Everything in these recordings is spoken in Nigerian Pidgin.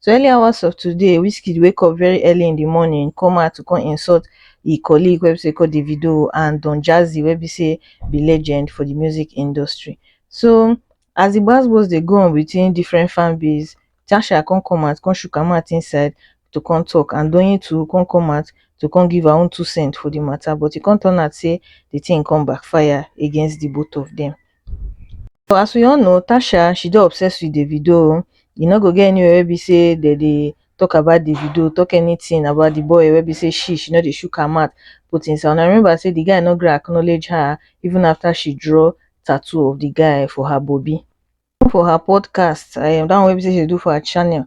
so early hours of today wizkid wake up very early in di morning come out to come insult e colleague wey be say called davido and don jazzy wey be say be legend for di music industry so as di gbas gbos dey go on between different fan base tasha come come out come shook her mouth inside to come talk and doyin too come come out to come give her own two cent for di matter but e come turn out say di thing come backfire against di both of dem As we all know Tasha she dey obsessed with Davido oh, e no go get anywhere wey be say dem dey talk about Davido, talk anything about the boy wey be say she she no dey shook her mouth put inside. Una remember say the guy no gree acknowledge her even after she draw tattoo of the guy for her bobi. For her podcast, um that one wey be say she dey do for her channel,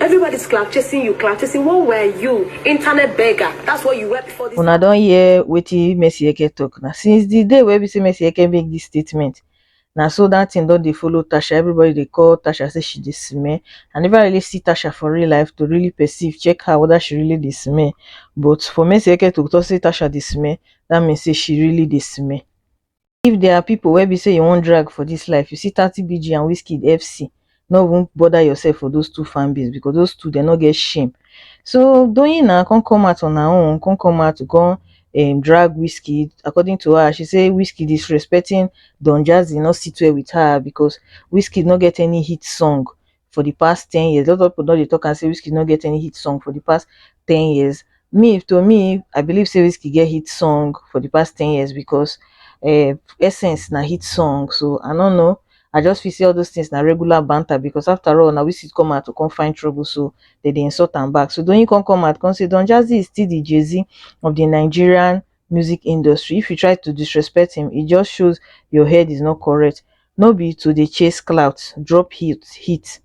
Everybody's cloud chasing you, cloud chasing. What were you? Internet beggar. That's what you were before this. Una don hear wetin Messi Eke talk na. Since the day wey be say Messi Eke make this statement, na so that thing don dey follow Tasha. Everybody dey call Tasha say she dey smell. I never really see Tasha for real life to really perceive, check her whether she really dey smell. But for Messi Eke to talk say Tasha dey smell, that means say she really dey smell. if there are people wey be say you wan drag for this life you see thirty bg and wizkid fc no even bother yourself for those two fan base because those two dem no get shame so doyin na come come out on her own come come out to come um, drag wizkid according to her she say wizkid is respecting don jazzy not sit well with her because wizkid no get any hit song for the past ten years. A lot of people don dey talk am say Wizkid no get any hit song for the past ten years. Me, to me, I believe say Wizkid get hit song for the past ten years because uh, Essence na hit song. So I don't know. I just feel say all those things na regular banter because after all, na Wizkid come out to come find trouble, so they dey insult am back. So Doyin come come out come say Don Jazzy is still the Jay-Z of the Nigerian music industry if you try to disrespect him e just shows your head is not correct no be to dey chase clout drop hit hit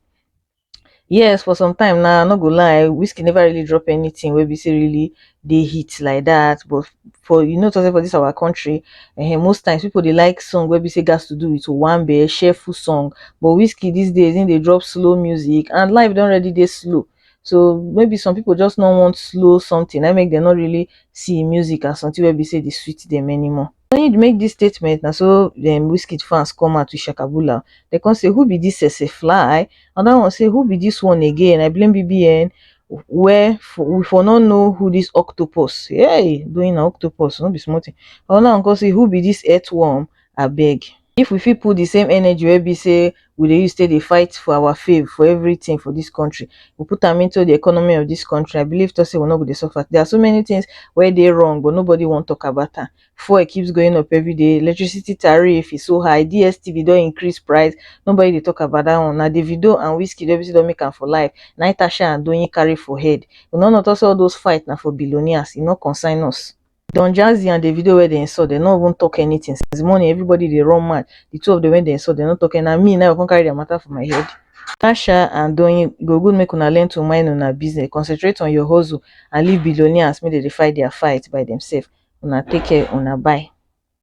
yes for some time now i no go lie whiskey never really drop anything wey be say really dey hit like that but for you know say for this our country eh, most times people dey like song wey be say gas to do with one be cheerful song but whiskey these days him dey drop slow music and life don already dey slow so maybe some people just no want slow something na make dem no really see music as something wey be say dey sweet dem anymore. When he make this statement na so dem Wizkid fans come out to shakabula dem come say who be this sese fly another one say who be this one again I blame BBN where for, we for no know who this octopus hey doing na octopus no be small thing another one come say who be this earthworm abeg if we fit put the same energy wey be sey we dey use take dey fight for our fave for everything for this country, we put am into the economy of this country, I believe talk sey we no go dey suffer. There are so many things wey dey wrong but nobody wan talk about am. Fuel keeps going up everyday, electricity tariff is so high, DSTV don increase price, nobody dey talk about that one. Na Davido and Wizkid wey be sey don make am for life na im Tasha and Doyin carry for head. Una no talk sey all those fight na for billionaires, e no concern us. Don Jazzy and Davido wey dey insult, dem no even talk anything since morning. Everybody dey run mad. The two of them wey dey insult, dem no talk anything. Na me now come carry their matter for my head. Tasha and Doyin, e go good make una learn to mind una business, concentrate on your hustle and leave billionaires make dem dey fight their fight by themselves. Una take care, una bye.